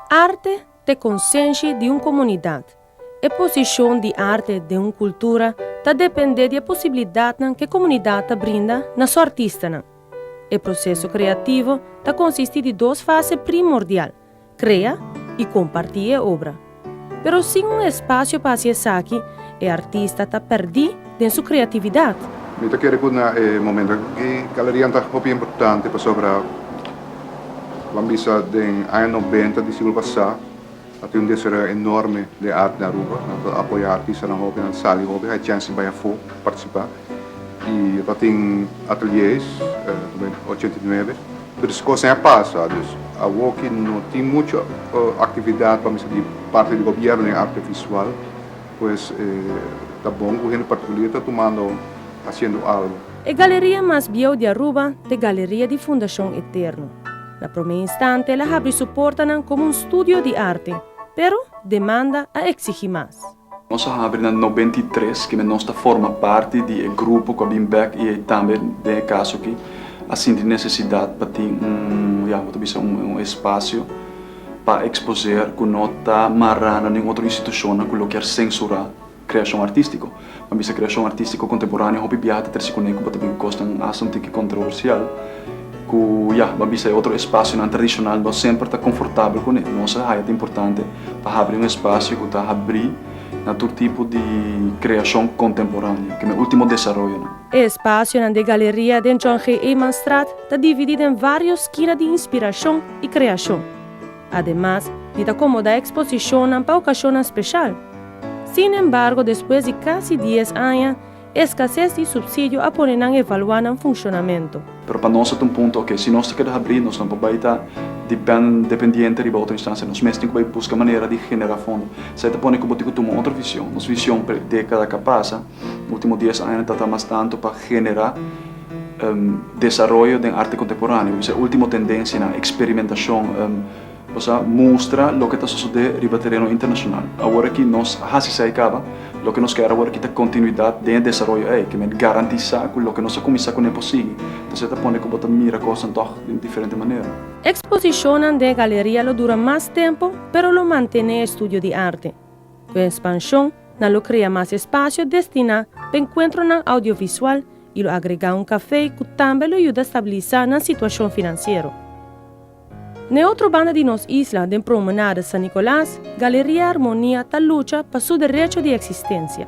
Arte t'e konsenshi di un komunidat. E posishon di arte den un kultura ta dependé di e posibilidatnan ku e komunidat ta brinda na su artistanan. E proseso kreativo ta konsistí di dos fase primordial, krea i kompartí e obra. Pero sin un espasio pa hasi esaki, e artista ta pèrdí den su kreatividat. Mi ta kere ku na e momentu aki galerianan ta hopi importante pasobra lo a bisa den aña noventa di siglo pasá, A tin un desaroyo enorme de art den Aruba. Nan ta apoya artistanan hopi, nan sali hopi, hay chèns di bai afó partisipá. I lo ta tin atelie's, como e ochenta i nuebe. Tur esei kosnan ya pasa, dus awor ki no tin muchu aktividat pa mester di parti di gobièrnu den arte visual, pues ta bon ku hende partikulier ta tumando, hasiendo algu. E galeria mas bieu di Aruba ta e galeria di Fundashon Eterno. Na promé instante el a habri su portanan komo un studio di arte, pero demanda a eksigí mas. Nos a habri na nobenta i tres kende nos ta forma parti di e grupo ku a bin bèk i tambe den e kaso aki a sinti nesesidat pa tin un, ya, bo ta bisa un espasio pa eksposer ku no ta mará na nin otro institushonnan ku lo kier sensurá. Kreashon artístiko. Pa mester kreashon artístiko kontemporáneo hopi biaha ta trese kuné ku bo ta bin kos nan un asuntu ki kontroversial ku ya bo a bisa e otro espasionan tradishonal nos semper ta konfortabel kuné. Nos a haya ta importante pa habri un espasio ku ta habrí na tur tipo di kreashon kontemporáneo, kende e último desaroyonan. E espasionan den galeria den John G. Eman Straat ta dividí den vários skina di inspirashon i kreashon. Ademas, di ta komodá eksposishonnan pa okashonnan speshal. Sin embargo, despues di kasi dies aña, e skases di supsidio a pone nan evaluá nan funshonamentu. Pero pa nos ta un punto, ok, si nos ta keda habrí, nos no por bai ta depèn, dependiente riba otro instansia. Nos mes tin ku bai buska manera di generá fondo. Sa e ta pone ku bo tin ku tuma otro vision. Nos vision pa e dékada ku a pasa. Ultimo dies aña ta ta mas tantu pa genera desaroyo den arte contemporaneo, bisai ultimo tendencianan, experimentacion, bo sa, mustra loke ta sosode riba tereno internacional. Awor aki nos a haci esai caba, loke nos ker awor aki ta continuidad den e desaroyo ei, ke men garantisa cu loke nos a cuminsa cunen por sigui, ta ser ta pone cu bo ta mira cosnan tog den diferente manera. Exposicionnan den e galeria lo dura mas tempo, pero lo mantene e estudio di arte. Ku e spanshon, nan lo krea mas espasio destiná pa enkuentronan audiovisual i lo agregá un kafé ku tambe lo yuda stabilisá nan situashon finansiero. Na e otro banda di nos isla, den Promenade San Nicolas, Galeria Armonia ta lucha pa su derecho di eksistensia.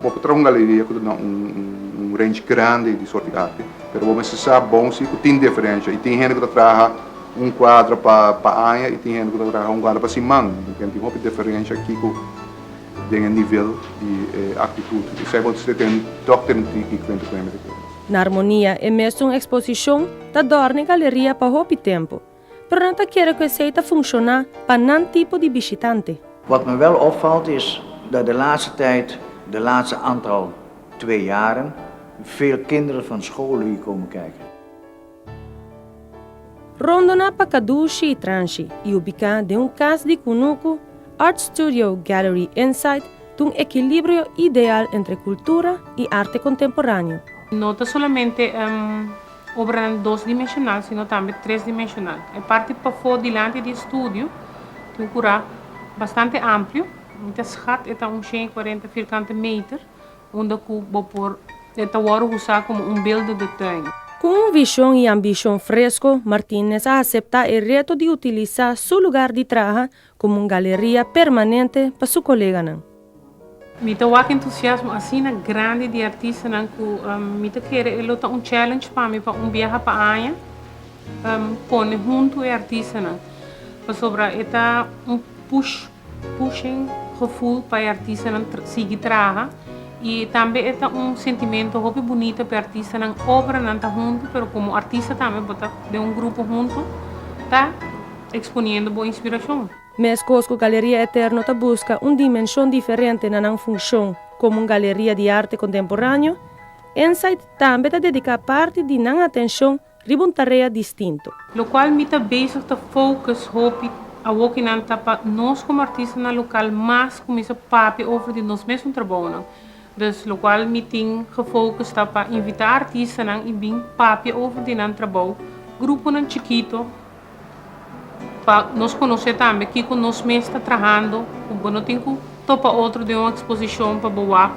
Bo por traha un galeria ku ta na un range grandi di sort di arte, pero bo mester sa bon si ku tin diferensha i tin hende ku ta traha un kuadro pa aña i tin hende ku ta traha un kuadro pa siman. Mi ten tin hopi diferensha aki ku den e nivel di e aktitut. Esei bo mester tene dòk tene di di kuenta ku hende ta keda. Na Armonia e mes un eksposishon ta dòrna e galeria pa hopi tempu. Pero nan ta kere ku esei ta funshoná pa nan tipo di bishitante. Wat me wèl opvalt is dat de laatste tyd, de laatste aantal, twee jaren, veel kinderen van scholen hier komen kijken. Rondona pa Cadushi i Transhi i ubiká den un kas di kunuku, Art Studio Gallery Insight ta un ekilibrio ideal entre kultura i arte kontemporáneo. No ta solamente. Obranan dos dimensional sino tambe tres dimensional. E parti pafó dilanti di e studio tin un kurá bastante amplio. Mi ta skat e ta un shen i kuarenta firkante meter unda ku bo por e ta wòrdu usá komo un beelden de tuin. Ku un vishon i ambishon fresko, Martínez a aseptá e reto di utilisá su lugar di traha komo un galeria permanente pa su koleganan. Mi ta wak entusiasmo asina grandi di artistanan ku mi ta kere e lo ta un challenge pa mi pa un biaha pa aña pone huntu e artistanan, pasobra e ta un push, pushing, gevoel pa e artistanan sigui traha i tambe e ta un sentimento hopi bunita pa e artistanan. Obranan ta huntu, pero komo artista tambe bo ta den un grupo huntu ta. Exponiendo bo inspiracion. Mescos cu Galeria Eterno ta busca un dimension diferente na nan funcion como un galeria di arte contemporaneo, Insight tambe ta dedica parti di nan atencion riba un tarea distinto. Locual mi ta bezig ta focus hopi awokinan ta pa nos como artistanan local mas cuminsa papia over di nos mes un trabaonan. Dus locual mi tin gefocus ta pa invita artistanan y bin papia over di nan trabao, gruponan chikito, Pa nos conoce tambe kico nos mes ta trahando, cu bo no tin cu topa otro den un exposicion pa bo wak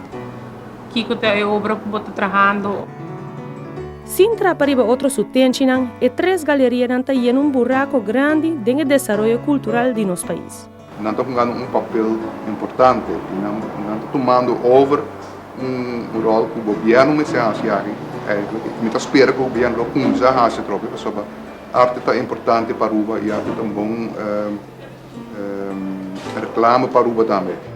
kico ta e obra cu bo ta trahando. Sin traha pa riba otro su tenchinan, e tres galerianan ta yena un buraco grandi den e desaroyo cultural di nos pais. Nan ta hungando un papel importante i nan ta tumando over un ròl ku gobièrnu mester hasi aki. Mi ta spera ku gobièrnu lo kumsa hasi atrobe pasobra arte ta importante pa Aruba i arte ta un bon reklama pa Aruba tambe.